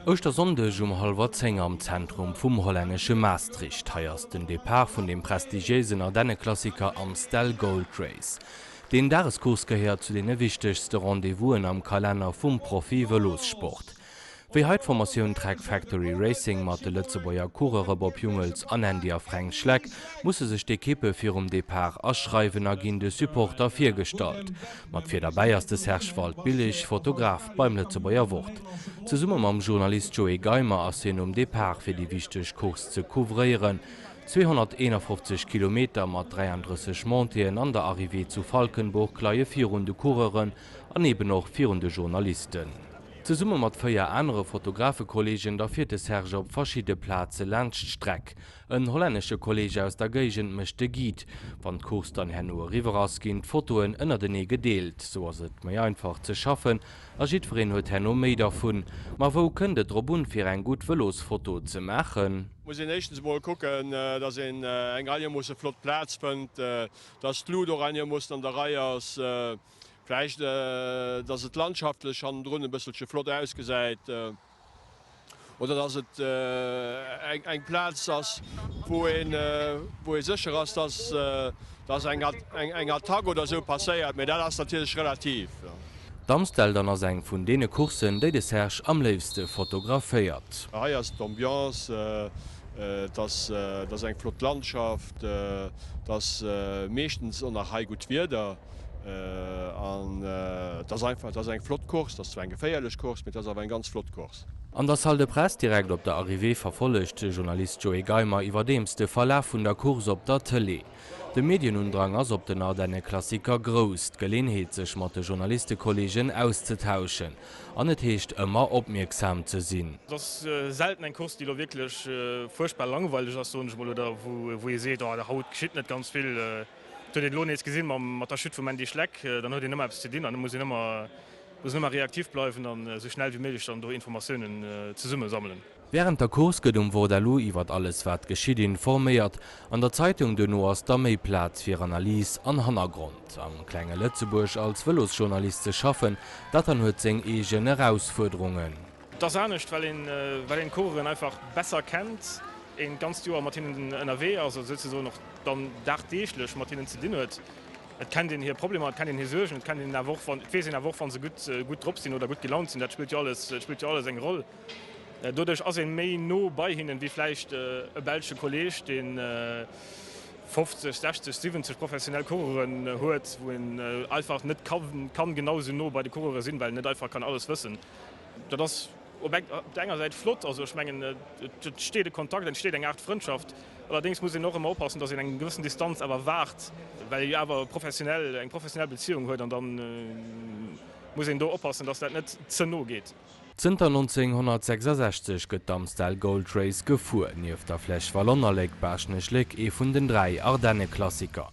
Ouschtersonndeg um hallwer 10 am Zentrum vum hollännesche Maastricht. Hei ass den Depart vun dem prestigiéisen Ardenneklassiker Amstel Gold Race. Den Dagescourse gehéiert zu deene wichtegste Rendez-vousen am Kalenner vum Profi-Vëlossport. Wéi hei d'Formatioun Trek Factory Racing mat de Lëtzebuerger Coureure'b op Jungels an Andy a Fränk Schleck musse sech d'Ekippe virum Depart aschreiwen a ginn de Supporter virgestallt. Mat vir derbäi ass de Serge Waldbillig, Fotograf beim Lëtzebuerger Wort. Zesumme mam Journalist Joé Geimer ass hien um Depart fir déi wichteg Course ze couvréieren, 251 Kilometer mat 33 Montée'en an der Arrivée zu Valkenburg leie virun de Coureuren an eben och virun de Journalisten. Zesumme mat véier anere Fotografekolleegen da fiert de Serge op verschidde Plaze laanscht d'Streck. En hollännesche Kolleeg aus der Géigend mécht de Guide. Wann d'Course dann herno eriwwer ass, ginn d'Fotoen ënnertenee gedeelt. Sou ass et méi einfach ze schaffen a jiddwereen huet herno méi dervun. Ma wou kënnt et drop un, fir eng gutt Vëlosfoto ze maachen? Muss een éischtens emol kucken, dass een eng einemoosse flott Plaz fënnt, dass d'Luut och einemoossen an der Rei ass. Vläicht dass et landschaftlech hannendrun e bësselche flott ausgesäit oder dass et eng Plaz ass wou ee sécher ass dass eng Attack oder esou passéiert, mä dat ass natierlech relativ. D'Amstel dann ass eng vun deene Courssen déi de Serge am léifste fotograféiert. Hei ass d'Ambiance, et ass eng flott Landschaft, et ass meeschtens och nach hei gutt Wieder. An et ass einfach, et ass eng flott Course. Et ass zwar eng geféierlech Course, mee et ass awer eng ganz flott Course. An der Salle de Presse direkt op der Arrivée verfollegt de Journalist Joé Geimer iwwerdeems de Verlaf vun der Course op der Tëlee. De Medienundrang ass op den Ardenneklassiker grouss, d'Geleenheet sech mat de Journalistekolleegen auszetauschen an et heescht ëmmer opmierksam ze sinn. Et ass selten eng Course, déi elo wierklech fuerchtbar langweileg ass, soen ech mol, oder wou ee seet, oh haut geschitt net ganz vill. Et huet een elo nees gesinn mat der Chute vum Andy Schleck, dann huet een ëmmer eppes ze dinn an da muss een ëmmer, muss een ëmmer reaktiv bleiwen an esou schnell wéi méiglech dann do Informatiounen zesumme sammelen. Wärend der Course gëtt um Vordaloo iwwert alles wat geschitt informéiert. An der Zeitung duerno ass da méi Plaz fir Analys an Hannergrond. Am klenge Lëtzebuerg als Vëlosjournalist ze schaffen, dat dann huet seng eegen Erausfuerderungen. Et ass anescht, well een d'Coureuren einfach besser kennt, een d'ganzt Joer mat hinnen ënnerwee ass, also souzesoen och dann dagdeeglech mat hinnen ze dinn huet. Et kennt een hir Problemer, et kennt een hir Suergen, et kennt een awer och, et weess een awer och, wa se gutt drop sinn oder gutt gelaunt sinn. Dat spillt jo alles eng Roll. Doduerch ass een méi no bei hinnen, wéi vläicht e belsche Kolleg, deen 50, 60, 70 professionell Coureuren huet, wou een einfach net kann genau esou no bei de Coureure sinn, well een net einfach kann alles wëssen. Dat ass op der enger Säit flott. Also ech mengen, et entsteet e Kontakt, et entsteet eng Aart Frëndschaft. Allerdéngs muss een och ëmmer opassen, datt een eng gewëssen Distanz awer waart, well ee jo awer professionell, eng professionell Beziéung huet. An da muss een do oppassen, datt dat net ze no geet. Zënter 1966 gëtt d'Amstel Gold Race gefuer. Nieft der Flèche Wallonne a Léck-Baaschtnech-Léck ee vun den dräi Ardenneklassiker.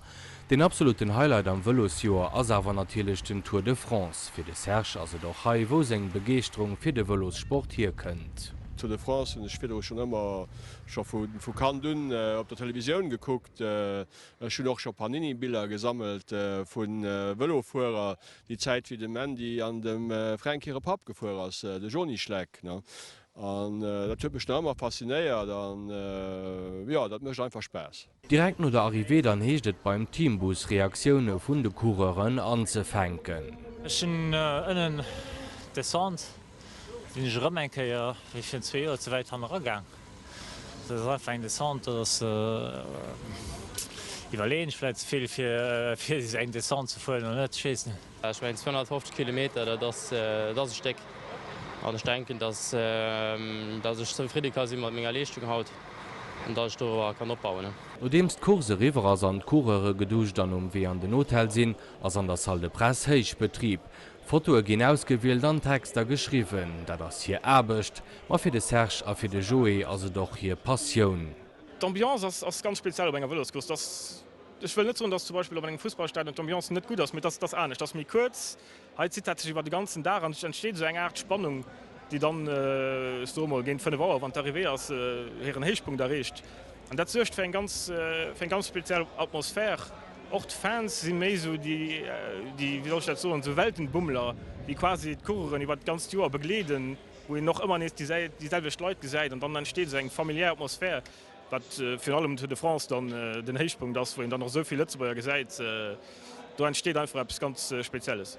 Den absoluten Highlight am Vëlosjoer ass awer natierlech den Tour de France. Fir de Serge ass et och hei, wou seng Begeeschterung fir de Vëlossport hierkënnt. D'Tour de France hunn ech virdru schonn ëmmer, scho vu Kand un, op der Televisioun gekuckt. Ech hunn och scho Panini-Biller gesammelt vu Vëlofuerer, déi Zäit wéi dem Andy an dem Fränk hire Papp gefuer ass, de Joni Schleck. An dat huet mech nach ëmmer faszinéiert an jo, dat mécht einfach Spaass. Direkt no der Arrivée dann heescht et beim Teambus Reaktioune vun de Coureuren anzefänken. Ech sinn ënnen descend, sinn ech erëm eng Kéier wéi virun zwee Joer ze wäit hanne ragaang. Dat ass einfach eng Descente, dat ass, iwwerleeën ech vläicht ze vill fir eng Descente ze fueren oder net, ech weess net. Ech mengen 250 Kilometer, dat ass e Stéck. An ech denken, datt ech zefridde ka si mat menger Leeschtung haut an datt ech dorobber kann opbauen. Nodeems d'Course eriwwer ass an d'Coureure geduscht an um Wee an den Hotel sinn, ass an der Salle de Presse Héichbetrib. Fotoe ginn ausgewielt an Texter geschriwwen. Dat ass hir Aarbecht. Ma fir de Serge a fir de Joé ass et och hir Passioun. D'Ambiance ass ganz speziell op enger Vëloscourse. Ech wëll net soen, dass zum Beispill op engem Fussballstadion d'Ambiance net gutt ass, mee dass et ass anescht, et ass méi kuerz. Hei zitt dat sech iwwer de ganzen Dag an et entsteet esou eng Aart Spannung, déi dann, ech soe mol, géint fënnef Auer, wann d'Arrivée ass, hiren Héichpunkt erreecht. An dat suergt fir eng ganz, fir eng ganz speziell Atmosphär. Och d'Fans si méi esou déi, déi, wéi soll ech dat soen, esou Weltenbummler, déi quasi d'Coureuren iwwer d'ganzt Joer begleeden, wou een och ëmmer nees déi selwecht Leit gesäit an dann entsteet esou eng familiär Atmosphär. Wat virun allem um Tour de France dann den Héichpunkt ass, wou een dann och esou vill Lëtzebuerger gesäit, do entsteet einfach eppes ganz Spezielles.